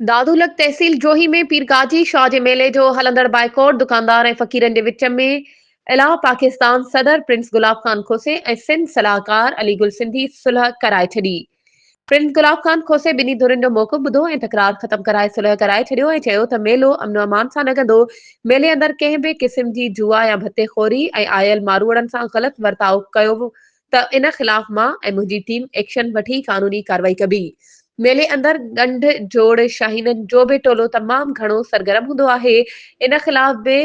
دادولڪ تحصيل جوهي ۾ پير گاجي شاهه جي ميلي جو هلندڙ بائيڪاٽ، دڪاندار ۽ فقيرن جي وچ ۾ الهه، پاڪستان صدر پرنس گلاب خان کوسي ۽ سنڌ صلاحڪار علي گل سنڌي صلح ڪرائي ڇڏي. پرنس گلاب خان کوسي ٻنهي ڌرين جو موقف ٻڌو ۽ تڪرار ختم ڪرائي صلح ڪرائي ڇڏيو ۽ چيو ته ميلو امن و امان سان لڳندو، ميلي اندر ڪنهن به قسم جي جوا يا ڀتي خوري ۽ آيل ماروئڙن سان غلط ورتاء ڪيو ته ان خلاف مان ۽ منهنجي ٽيم ايڪشن وٺي قانوني ڪارروائي ڪبي. ميلي اندر ڳنڍ جوڙ شاهينن جو به ٽولو تمام گهڻو سرگرم هوندو آهي، ان خلاف به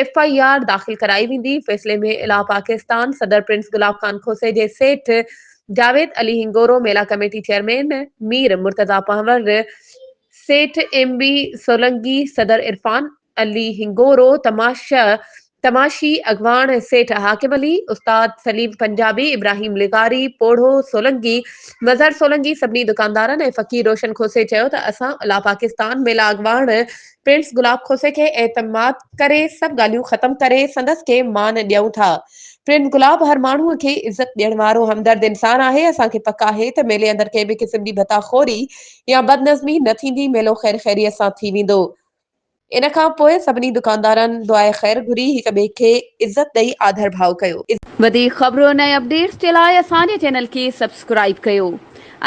ايف آء آر داخل ڪرائي ويندي، فيصلي ۾ الاء پاڪستان صدر پرنس گلاب خان کوسي جي سيٺ Javed Ali Hingoro, mela committee chairman Mir Murtaza Panhwar, Seth M B Solangi, صدر عرفان علي هنگورو، تماشي اڳواڻ سيٺ حاڪم علي، استاد سليم پنجابي، ابراهيم لغاري، پوڙهو سولنگي، مظهر سولنگي سڀني دڪاندارن ۽ فقير روشن کهوسي چيو ته اسان الا پاڪستان ميلا اڳواڻ پرنس گلاب کهوسي کي اعتماد ڪري سڀ ڳالهيون ختم ڪري سندس کي مان ڏيون ٿا پرنس گلاب هر ماڻهو کي عزت ڏيڻ وارو همدرد انسان آهي اسان کي پڪ آهي ته ميلي اندر ڪنهن به قسم جي ڀتا خوري يا بدنظمي نه ٿيندي ميلو خير خيريت سان ٿي ويندو ان کان پوء سڀني دڪاندارن دعائي خير گهري هڪ ٻئي کي عزت ڏئي آڌر ڀاء ڪيو. وڌيڪ خبرون ۽ اپڊيٽس جي لاء اسان جي چينل کي سبسڪرائيب ڪيو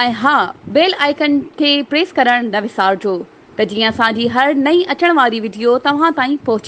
۽ ها بيل آئيڪن کي پريس ڪرڻ نه وسارجو ته جيئن اسان جي هر نئين اچڻ واري وڊيو توهان تائين پهچي.